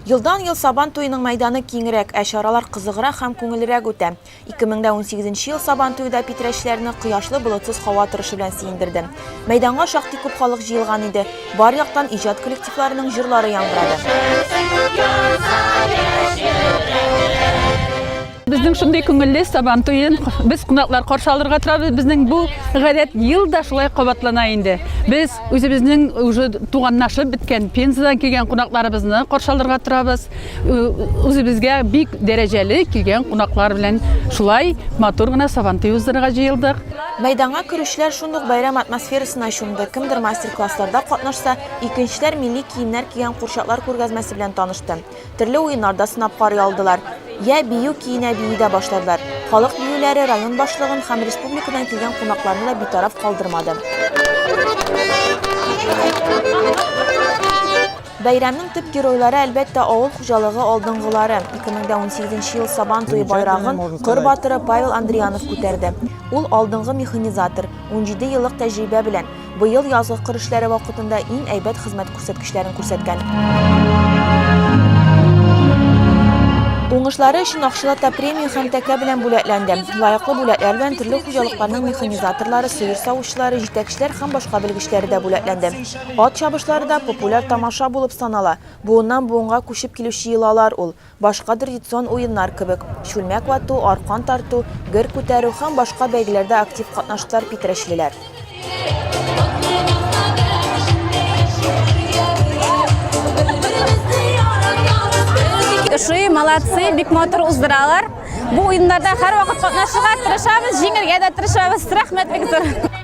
Елдан-ел Сабан туеның мәйданы киңрәк, ә чаралар кызыграк һәм күңеллерәк үтә. 2018 нче ел Сабан туе да питрәчләрне кояшлы, болытсыз һава торышы белән сөендерде. Мәйданга шактый күп халык җыелган иде. Бар яктан иҗат коллективларының җырлары яңгырады. Безнең шундый күңелле сабан туен без кунаклар каршы алырга торабыз. Безнең бу гадәт ел да шулай кабатлана инде. Без үзебезнең уже туганнашып беткән Пензадан килгән кунакларыбызны каршы алырга торабыз. Үзебезгә бик дәрәҗәле килгән кунаклар белән шулай матур гына сабан туй уздырырга җыелдык. Мәйданга керүчеләр шундук бәйрәм атмосферасына чумды. Кемдер мастер-классларда катнашса, икенчеләр милли киемнәр кигән курчаклар күргәзмәсе белән танышты. Төрле уеннар да сынап карый алдылар. Йә бию көенә бии дә башладылар. Халык биюләре район башлыгын һәм республикадан килгән кунакларны да битараф калдырмады. Бәйрәмнең төп геройлары, әлбәттә, авыл хуҗалыгы алдынгылары. 2018 нче ел Сабан туе байрагын Кыр батыры Павел Андриянов күтәрде. Ул, алдынгы механизатор, унҗиде еллык тәҗрибә белән. Быел язгы кыр эшләре вакытында иң әйбәт хезмәт күрсәткечләрен күрсәткән. Уңышлары өчен акчалата премия һәм тәкә белән бүләкләнде. Лаеклы бүләкләр белән төрле хуҗалыкларның механизаторлары, сыер савучылары, җитәкчеләр һәм башка белгечләре дә бүләкләнде. Ат чабышлары да популяр тамаша булып санала. Буыннан буынга күчеп килүче йолалар ул. Башка традицион уеннар кебек, чүлмәк вату, аркан тарту, гер күтәрү һәм башка бәйгеләрдә актив катнаштылар питрәчлеләр. Ошый, молодцы, бик матур уздыралар. Бу уеннарда һәрвакыт катнашырга тырышабыз, җиңергә дә тырышабыз. Рәхмәт бик зур.